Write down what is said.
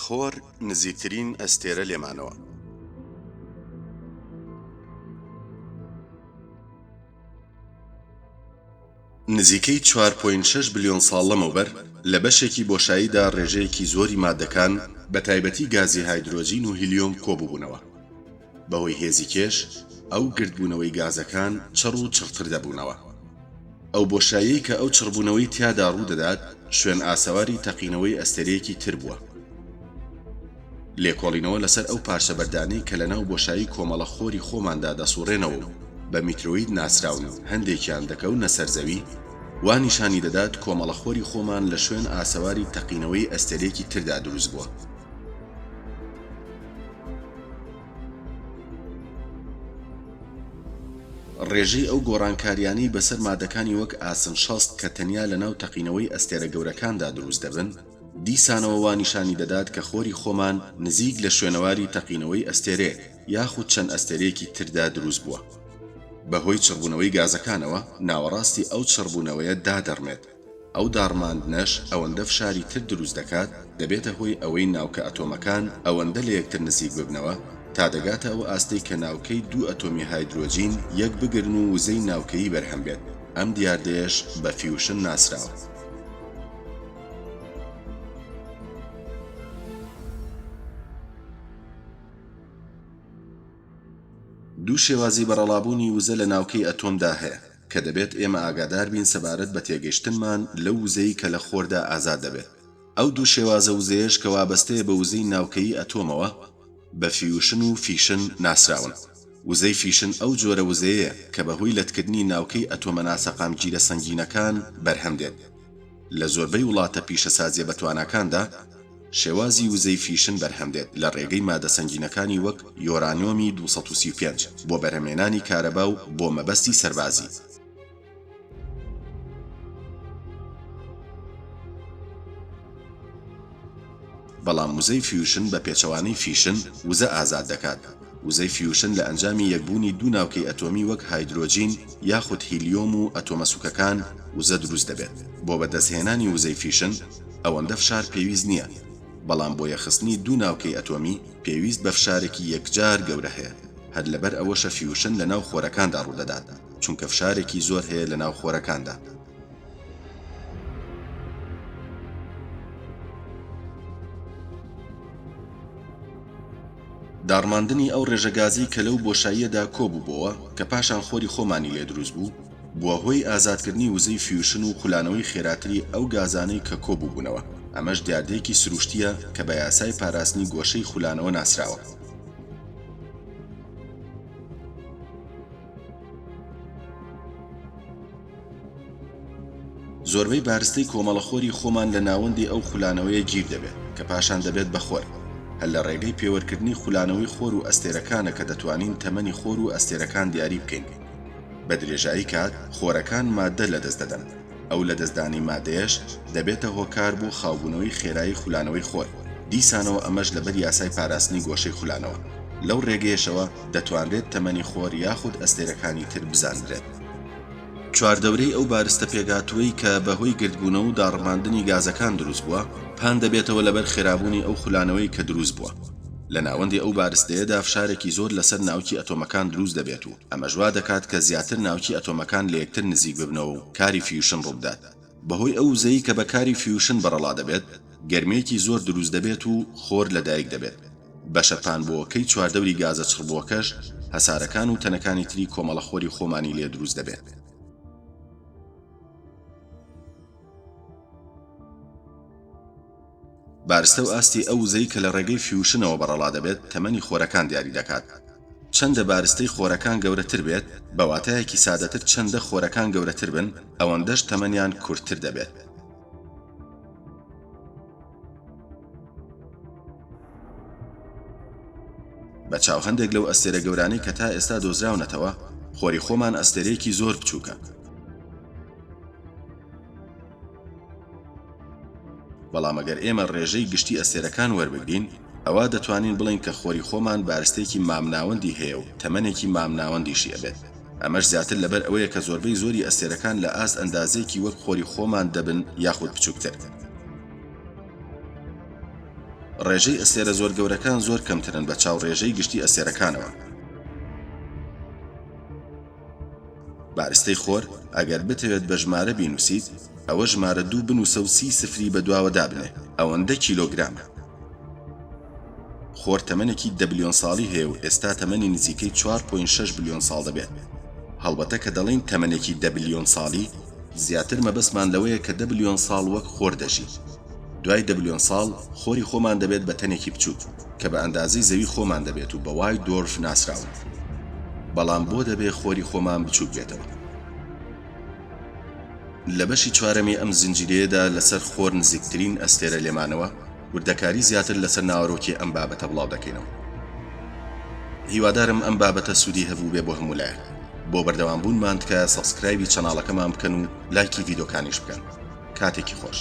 خۆر نزیکترین ئەستێرە لێمانەوە. نزیکەی چوار پۆینت شەش بلیۆن ساڵ لەمەوبەر، لە بەشێکی بۆشاییدا ڕێژەیەکی زۆری ماددەکان، بەتایبەتی گازی هایدرۆجین و هیلیۆم کۆبووبوونەوە. بەهۆی هێزی کێش ئەو گردبوونەوەی گازەکان چڕ و چڕتر دەبوونەوە. ئەو بۆشاییەی کە ئەو چڕبوونەوەی تیادا ڕوو دەدات شوێن ئاسەواری تەقینەوەی ئەستێرەیەکی تر بووە. لێکۆڵینەوە لەسەر ئەو پارچە بەردانەی کە لەناو بۆشایی کۆمەڵە خۆری خۆماندا دەسوڕێنەوە و بە میترۆید ناسراون و هەندێکیان دەکەونە سەر زەوی، وا نیشانی دەدات کۆمەڵە خۆری خۆمان لە شوێن ئاسەواری تەقینەوەی ئەستێرەیەکی تردا دروست بووە. ڕێژەی ئەو گۆڕانکارییانەی بەسەر مادەکانی وەک ئاسن شەست کە تەنیا لەناو تەقینەوەی ئەستێرە گەورەکاندا دروست دەبن، دیسانەوە وا نیشانی دەدات کە خۆری خۆمان نزیک لە شوێنەواری تەقینەوەی ئەستێرەیەک یاخود چەند ئەستێرەیەکی تردا دروست بووە. بەهۆی چڕبوونەوەی گازەکانەوە، ناوەڕاستی ئەو چڕبوونەوەیە دادەڕمێت. ئەو داڕماندنەش ئەوەندە فشاری تر دروست دەکات، دەبێتە هۆی ئەوەی ناوکە ئەتۆمەکان ئەوەندە لە یەکتر نزیک ببنەوە، تا دەگاتە ئەو ئاستەی کە ناوکەی دوو ئەتۆمی هایدرۆجین یەک بگرن و وزەی ناوکەیی بەرهەم بێت، ئەم دیاردەیەش بە فیوشن ناسراوە. دوو شێوازی بەرەڵابوونی وزە لە ناوکەی ئەتۆمدا هەیە. کە دەبێت ئێمە ئاگادار بین سەبارەت بە تێگەشتنمان لەو وزەی کە لە خۆردا ئازاد دەبێت. ئەو دوو شێوازە وزەیەش کە وابەستەیە بە وزەی ناوکەیی ئەتۆمەوە، بە فیوشن و فیشن ناسراون. وزەی فیشن ئەو جۆرە وزەیەیە کە بە هۆی لەتکردنی ناوکەی ئەتۆمە ناسەقامگیرە سەنگینەکان بەرهەم دێت. لە زۆربەی وڵاتە پیشەسازییە بەتواناکاندا، شێوازی وزەی فیشن بەرهەم دێت لە ڕێگەی مادە سەنگینەکانی وەک یۆرانیۆمی دوو سەد و سی و پێنج بۆ بەرهەمێنانی کارەبا و بۆ مەبەستی سەربازی. بەڵام وزەی فیوشن بە پێچەوانەی فیشن وزە ئازاد دەکات، وزەی فیوشن لە ئەنجامی یەکبوونی دوو ناوکەی ئەتۆمی وەک هایدرۆجین یاخود هیلیۆم و ئەتۆمە سووکەکان وزە دروست دەبێت، بۆ بەدەستهێنانی وزەی فیشن ئەوەندە فشار پێویست نییە، بەڵام بۆ یەخستنی دوو ناوکەی ئەتۆمی پێویست بە فشارێکی یەکجار گەورە هەیە، هەر لەبەر ئەوەشە فیوشن لەناو خۆرەکاندا ڕوودەدات، چونکە فشارێکی زۆر هەیە لەناو خۆرەکاندا. داڕماندنی ئەو ڕێژە گازەی کە لەو بۆشاییەدا کۆ بووبۆوە، کە پاشان خۆری خۆمانی لێ دروست بوو، بووە هۆی ئازادکردنی وزەی فیوشن و خولانەوەی خێراتری ئەو گازانەی کە کۆ بووبوونەوە، ئەمەش دیاردەیەکی سروشتییە کە بە یاسای پاراستنی گۆشەی خولانەوە ناسراوە. زۆربەی بارستەی کۆمەڵەخۆری خۆمان لە ناوەندی ئەو خولانەوەیە گیر دەبێت، کە پاشان دەبێت بە خۆر. هەر لە ڕێگەی پێوەرکردنی خولانەوەی خۆر و ئەستێرەکانە کە دەتوانین تەمەنی خۆر و ئەستێرەکان دیاری بکەین. بە درێژایی کات خۆرەکان ماددە لەدەست دەدەن، ئەو لەدەستدانی ماددەیەش دەبێتە هۆکار بۆ خاوبوونەوەی خێرایی خولانەوەی خۆر، دیسانەوە ئەمەش لەبەر یاسای پاراستنی گۆشەی خولانەوە. لەو ڕێگەیەشەوە دەتوانرێت تەمەنی خۆر یاخود ئەستێرەکانی تر بزاندرێت. چواردەورەی ئەو بارستە پێکهاتووەی کە بەهۆی گردبوونەوە و داڕماندنی گازەکان دروست بووە، پان دەبێتەوە لەبەر خێرابوونی ئەو خولانەوەی کە دروست بووە. لە ناوەندی ئەو بارستەیەدا فشارێکی زۆر لەسەر ناوکی ئەتۆمەکان دروست دەبێت و ئەمەش وا دەکات کە زیاتر ناوکی ئەتۆمەکان لە یەکتر نزیک ببنەوە و کاری فیوشن ڕووبدات. بەهۆی ئەو وزەی کە بە کاری فیوشن بەڕەڵا دەبێت، گەرمییەکی زۆر دروست دەبێت و خۆر لەدایک دەبێت. بەشە پانبۆوەکەی چواردەوری گازە چڕبووەکەش هەسارەکان و تەنەکانی تری کۆمەڵە خۆری خۆمانی لێ دروست دەبێت. بارستە و ئاستی ئەو وزەی کە لە ڕێگەی فیوشنەوە بەڕەڵا دەبێت تەمەنی خۆرەکان دیاری دەکات. چەندە بارستەی خۆرەکان گەورەتر بێت، بە واتایەکی سادەتر چەندە خۆرەکان گەورەتر بن، ئەوەندەش تەمەنیان کورتتر دەبێت. بە چاو هەندێک لەو ئەستێرە گەورانەی کە تا ئێستا دۆزراونەتەوە، خۆری خۆمان ئەستێرەیەکی زۆر بچووکە. بەڵام ئەگەر ئێمە ڕێژەی گشتی ئەستێرەکان وەربگرین، ئەوا دەتوانین بڵێین کە خۆری خۆمان بارستێکی مامناوەندی هەیە و تەمەنێکی مامناوەندیشی ئەبێت. ئەمەش زیاتر لەبەر ئەوەیە کە زۆربەی زۆری ئەستێرەکان لە ئاست ئەندازەیەکی وەک خۆری خۆمان دەبن یاخود بچووکتر. ڕێژەی ئەستێرە زۆر گەورەکان زۆر کەمترن بە چاو ڕێژەی گشتی ئەستێرەکانەوە. بارستەی خۆر، ئەگەر بتەوێت بە ژمارە بینوسیت، ئەوە ژمارە دوو بنوسە و سی سفری بەدواوە دابنێ، ئەوەندە کیلۆگرامە. خۆر تەمەنێکی دە بلیۆن ساڵی هەیە و ئێستا تەمەنی نزیکەی چوار پۆینت شەش بلیۆن ساڵ دەبێت. هەڵبەتە کە دەڵێین تەمەنێکی دە بلیۆن ساڵی، زیاتر مەبەستمان لەوەیە کە دە بلیۆن ساڵ وەک خۆر دەژی دوای دە بلیۆن ساڵ خۆری خۆمان دەبێت بە تەنێکی بچوک کە بە ئەندازەی زەوی خۆمان دەبێت و بە وای دۆرف ناسراون بەڵام بۆ دەبێ خۆری خۆمان بچووک بێتەوە لە بەشی چوارەمی ئەم زنجیرەیەدا لەسەر خۆر نزیکترین ئەستێرە لێمانەوە وردەکاری زیاتر لەسەر ناوەرۆکی ئەم بابەتە بڵاو دەکەینەوە هیوادارم ئەم بابەتە سوودی هەبوو بێ بۆ هەموو لایەک بۆ بەردەوام بوونمان تکایە سەبسکرایبی چەناڵەکەمان بکەن و لایکی ڤیدۆکانیش بکەن کاتێکی خۆش.